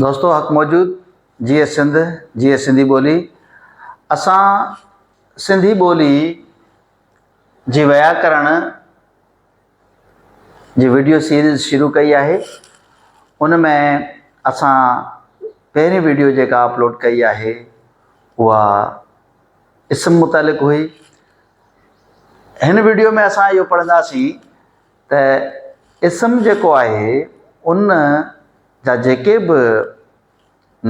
دوستو حق موجود جيئي سنڌ جيئي سنڌي ٻولي اسان سنڌي ٻولي جي وياڪرڻ جي ويڊيو سيريز شروع ڪئي آهي ان ۾ اسان پهرين ويڊيو جيڪا اپلوڊ ڪئي آهي اها اسم متعلق هئي هن ويڊيو ۾ اسان اهو پڙهنداسين ته اسم جيڪو آهي ان جا جيڪي به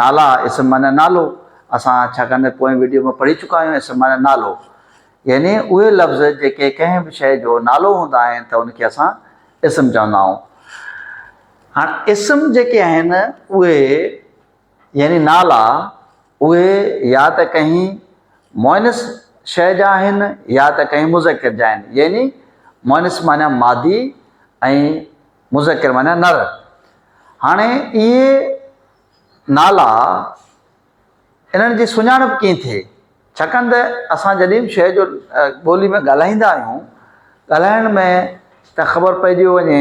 نالا اسم معنيٰ نالو اسان ڇاڪاڻ ته پوئين وڊيو ۾ پڙهي چڪا آهيون اسم معنيٰ نالو يعني اهي لفظ جيڪي ڪنهن به شيء جو نالو هوندا آهن ته ان کي اسان اسم چوندا آهيون هاڻ اسم جيڪي آهن اهي يعني نالا اهي يا ته ڪنهن مؤنث شيء جا آهن يا ته ڪنهن مذڪر جا آهن، يعني مؤنث معنيٰ مادي ۽ مذڪر معنيٰ نر. هاڻي اهي نالا انهن جي سڃاڻپ ڪيئن ٿئي؟ ڇاڪاڻ ته اسان جڏهن به شيء جو ٻولي ۾ ڳالهائيندا آهيون، ڳالهائڻ ۾ ته خبر پئجي وڃي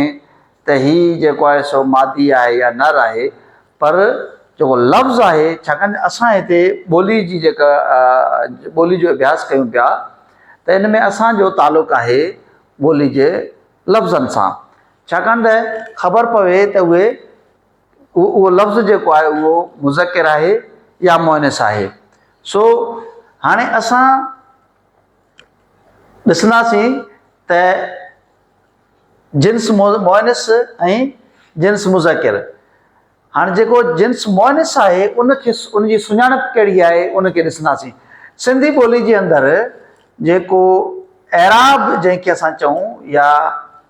ته هي جيڪو آهي سو مادي آهي يا نر آهي پر جيڪو لفظ آهي ڇاڪاڻ ته اسان هتي ٻولي جي جيڪا ٻولي جو اڀياس ڪيون پيا ته ان ۾ اسان جو تعلق آهي ٻولي جي لفظن سان ڇاڪاڻ ته خبر پوي ته اهي اهو لفظ جيڪو آهي اهو مذڪر آهي يا مؤنث آهي سو هاڻي اسان ڏسنداسين ته جنس مؤنث ۽ جنس مذڪر هاڻي جيڪو جنس مؤنث آهي ان کي ان جي سڃاڻپ ڪهڙي آهي ان کي ڏسنداسين سنڌي ٻولي جي اندر جيڪو اعراب جنهن کي اسان چئون يا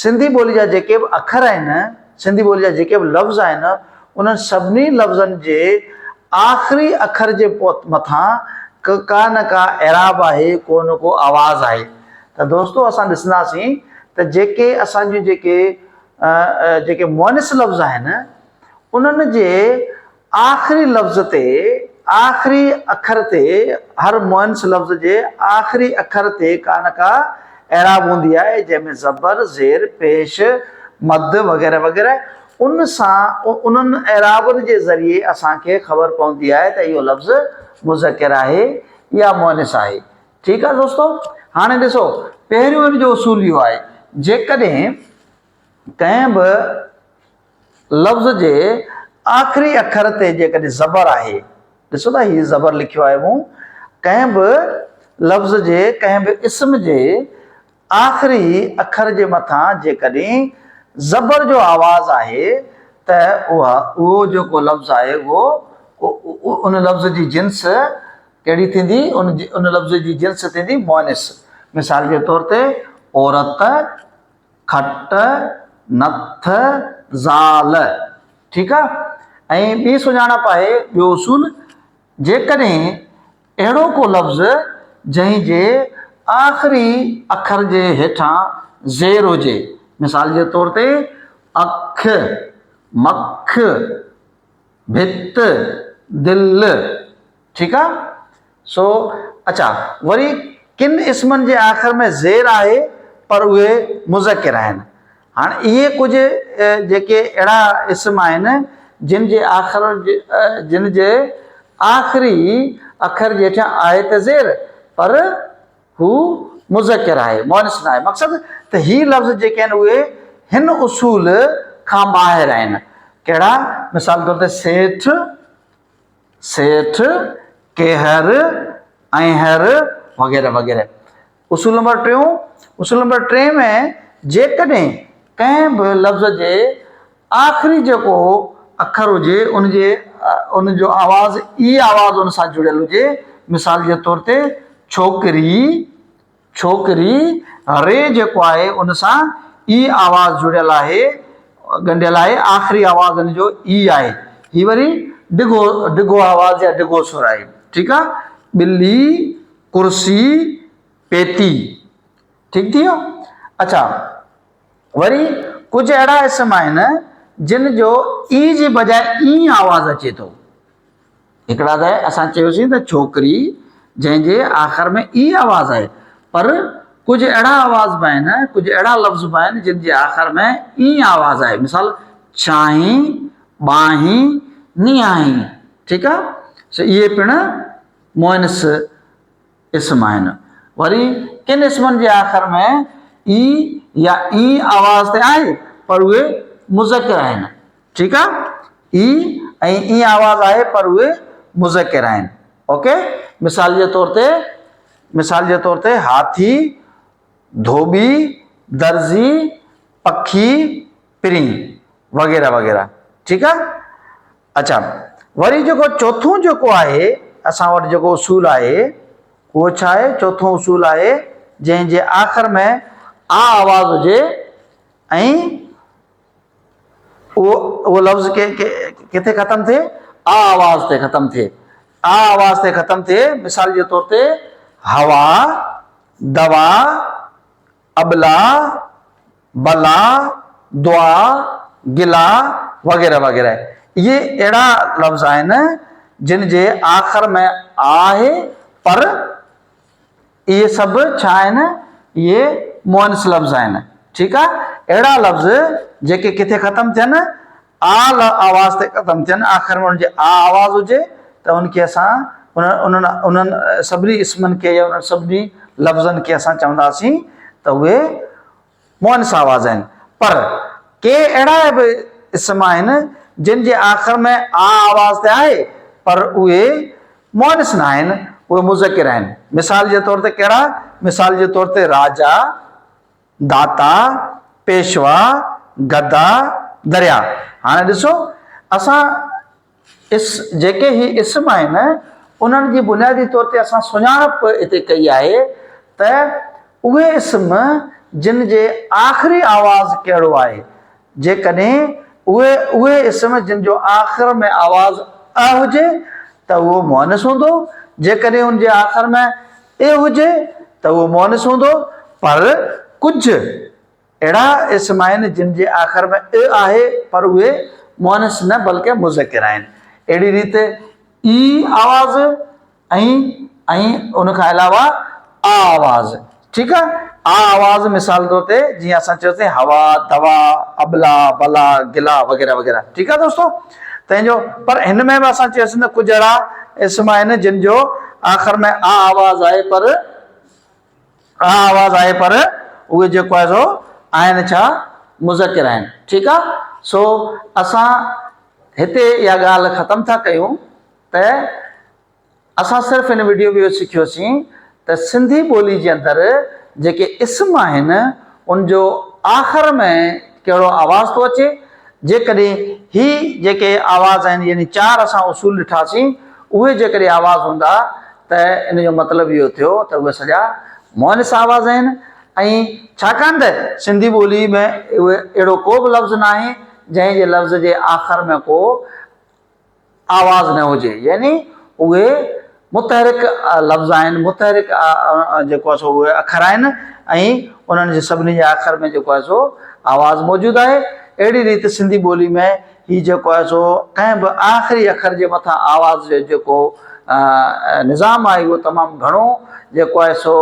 سنڌي ٻولي جا جيڪي به اکر آهن، سنڌي ٻولي جا جيڪي به لفظ آهن، انهن سڀني لفظن جي آخري اکر جي مٿان ڪه ڪا نه ڪا اعراب آهي، ڪو نه ڪو آواز آهي. ته دوستو اسان ڏسنداسين ته جيڪي اسان جون جيڪي جيڪي مؤنث لفظ آهن، انهن جي آخري لفظ تي، آخري اکر تي، هر مؤنث لفظ جي آخري اکر تي ڪا نه ڪا اعراب هوندي آهي، جنهن ۾ زبر، زير، پيش، مد وغيره وغيره ان سان انهن اعرابن جي ذريعي اسان کي خبر پوندي آهي ته اهو لفظ مذڪر آهي يا مؤنث آهي. ٺيڪ آهي دوستو هاڻي ڏسو پهريون ان جو اصول اهو آهي جيڪڏهن ڪنهن به لفظ جي آخري اکر تي جيڪڏهن زبر آهي، ڏسو ته هي زبر لکيو آهي مون، ڪنهن به لفظ جي ڪنهن به اسم جي آخري اکر جي مٿان جيڪڏهن زبر جو آواز آهي ته اها. اهو جيڪو لفظ آهي اهو ان لفظ جي جنس ڪهڙي ٿيندي؟ ان لفظ جي جنس ٿيندي مؤنث. مثال جي طور تي عورت. کٽ نٿ زال. ٺيڪ آ ۽ ٻي سڃاڻپ آهي ٻيو اصول جيڪڏهن اهڙو ڪو لفظ جنهن جي آخري اکر جي هيٺان زير هجي مثال جي طور تي اک، مک، ڀت، دل. ٺيڪ آ سو اچا وري ڪن اسمن جي آخر ۾ زير آهي پر اهي مذڪر آهن هاڻ اهي ڪجهه جيڪي اهڙا اسم آهن جن جي آخر جن جي آخري اکر جي هيٺيان آهي ته زير پر هو مذڪر آهي مؤنث نه آهي مقصد ته هي لفظ جيڪي آهن اهي هن اصول کان ٻاهر آهن ڪهڙا مثال طور تي سيٺ سيٺ، ڪيهر، اينهر وغيره وغيره. اصول نمبر ٽيون، اصول نمبر ٽي ۾ جيڪڏهن ڪنهن به لفظ جي آخري جيڪو اکر هجي ان جي ان جو آواز اي آواز ان سان جڙيل هجي مثال جي طور تي ڇوڪري، ڇوڪري، ري جيڪو آهي ان سان اي آواز جڙيل آهي، ڳنڍيل آهي، آخري آواز ان جو اي آهي. هي وري ڊگهو ڊگهو آواز يا ڊگهو سر آهي. ٺيڪ آ. ٻلي، ڪرسي، پيتي. ٺيڪ ٿي ويو. اڇا وري ڪجهه اهڙا اسم آهن جن جو اي جي بجاء اي آواز اچي ٿو. هڪڙا ته اسان چيوسين ته ڇوڪري جنهن جي آخر ۾ اي آواز آهي پر ڪجهه اهڙا آواز به آهن ڪجهه اهڙا لفظ به آهن جن جي آخر ۾ اي آواز آهي مثال ڇانهين، ٻانهين، نيانهين ٺيڪ آهي سو اهي پڻ مؤنث. اسم آهن. وري ڪن اسمن جي آخر ۾ ئي يا اين آواز تي آهي پر اهي مذڪر آهن. ٺيڪ آ. ئي ۽ اين آواز آهي پر اهي مذڪر آهن. اوڪي. مثال جي طور تي مثال جي طور تي هاٿي، ڌوٻي، درزي، پکي، پرين وغيره وغيره. ٺيڪ آ. اچا وري جيڪو چوٿون جيڪو آهي اسان وٽ جيڪو اصول آهي اهو ڇا آهي چوٿون اصول آهي جنهن جي آخر ۾ آ آواز هجي ۽ اهو اهو لفظ ڪي ڪٿي ختم ٿئي آ آواز تي ختم ٿئي آ آواز تي ختم ٿئي مثال جي طور تي هوا دوا ابلا، بلا، دعا، گلا وغيره وغيره اهي اهڙا لفظ آهن جن جي آخر ۾ آ آهي پر اهي سڀ ڇا آهن اهي مؤنث لفظ آهن ٺيڪ آ اهڙا لفظ جيڪي ڪٿي ختم ٿين آ ل آواز تي ختم ٿين، آخر ۾ انهن جي آ آواز هجي ته ان کي اسان انهن انهن سڀني اسمن کي يا انهن سڀني لفظن کي اسان چونداسين ته اهي مؤنث آواز آهن. پر ڪي اهڙا به اسم آهن جن جي آخر ۾ آ آواز ته آهي پر اهي مؤنث ناهن، اهي مذڪر آهن. مثال جي طور تي ڪهڙا؟ مثال جي طور تي راجا، داتا، پيشوا، گدا، دريا. هاڻي ڏسو اسان اس جيڪي هي اسم آهن انهن جي بنيادي طور تي اسان سڃاڻپ هتي ڪئي آهي ته اهي اسم جن جي آخري آواز ڪهڙو آهي جيڪڏهن اهي اهي اسم جن جو آخر ۾ آواز ء هجي ته اهو مؤنث هوندو جيڪڏهن ان جي آخر ۾ اي هجي ته اهو مؤنث هوندو، پر ڪجهه اهڙا اسم آهن جن جي آخر ۾ اء آهي پر اهي مؤنث نه بلڪه مذڪر آهن. اهڙي ريت اي آواز ۽ ۽ ان کان علاوه آ آواز ٺيڪ آ آ آواز مثال طور تي جيئن اسان چيوسين هوا، دوا، ابلا، بلا، گلا وغيره وغيره ٺيڪ آ دوستو. تنهن جو پر هن ۾ به اسان چيوسين ته ڪجهه اهڙا اسم آهن جن جو آخر ۾ آ آواز آهي پر آ آواز آهي پر اهي جيڪو آهي سو آهن ڇا مذڪر آهن ٺيڪ آ سو اسان هتي اها ڳالهه ختم ٿا ڪيون ته اسان صرف ان وڊيو ۾ اهو سکيوسين ته سنڌي ٻولي جي اندر جيڪي اسم آهن ان جو آخر ۾ ڪهڙو آواز ٿو اچي جيڪڏهن هي جيڪي آواز آهن يعني چار اسان اصول ڏٺاسين اهي جيڪڏهن آواز هوندا ته ان جو مطلب اهو ٿيو ته اهي سڄا مؤنث آواز آهن ۽ ڇاڪاڻ ته سنڌي ٻولي ۾ اهڙو ڪو به لفظ ناهي جنهن جي لفظ جي آخر ۾ ڪو آواز نه هجي يعني اهي متحرڪ لفظ آهن متحرڪ جيڪو آهي سو اهي اکر آهن ۽ انهن جي سڀني جي آخر ۾ جيڪو آهي سو آواز موجود آهي اهڙي ريت سنڌي ٻولي ۾ هي جيڪو آهي سو ڪنهن به آخري اکر جي مٿان آواز جو جيڪو نظام آهي اهو تمام گهڻو جيڪو آهي سو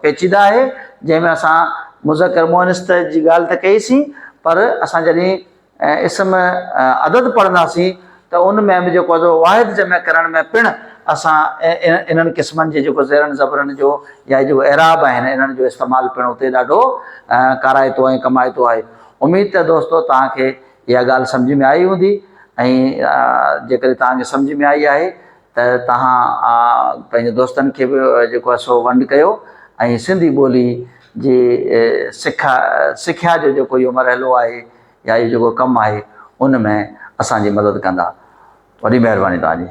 پيچيده آهي جنهن ۾ اسان مذڪر مؤنث جي ڳالهه ته ڪئي سين پر اسان جڏهن ۽ اسم عدد پڙهنداسين ته ان ۾ به جيڪو آهي سو واحد جمع ڪرڻ ۾ پڻ اسان انهن قسمن جي جيڪو زيرن زبرن جو يا هي جيڪو اعراب آهن انهن جو استعمال پڻ اتي ڏاڍو ڪارائتو ۽ ڪمائتو آهي. اميد ته دوستو توهان کي اها ڳالهه سمجهه ۾ آئي هوندي ۽ جيڪڏهن توهان کي سمجهه ۾ آئي آهي ته توهان پنهنجي دوستن کي به جيڪو آهي سو ونڊ ڪيو ۽ سنڌي ٻولي جي سکا سکيا جو جيڪو اهو مرحلو آهي يا اهو جيڪو ڪم آهي ان ۾ اسان جي مدد ڪندا وڏي مهرباني توهان جي.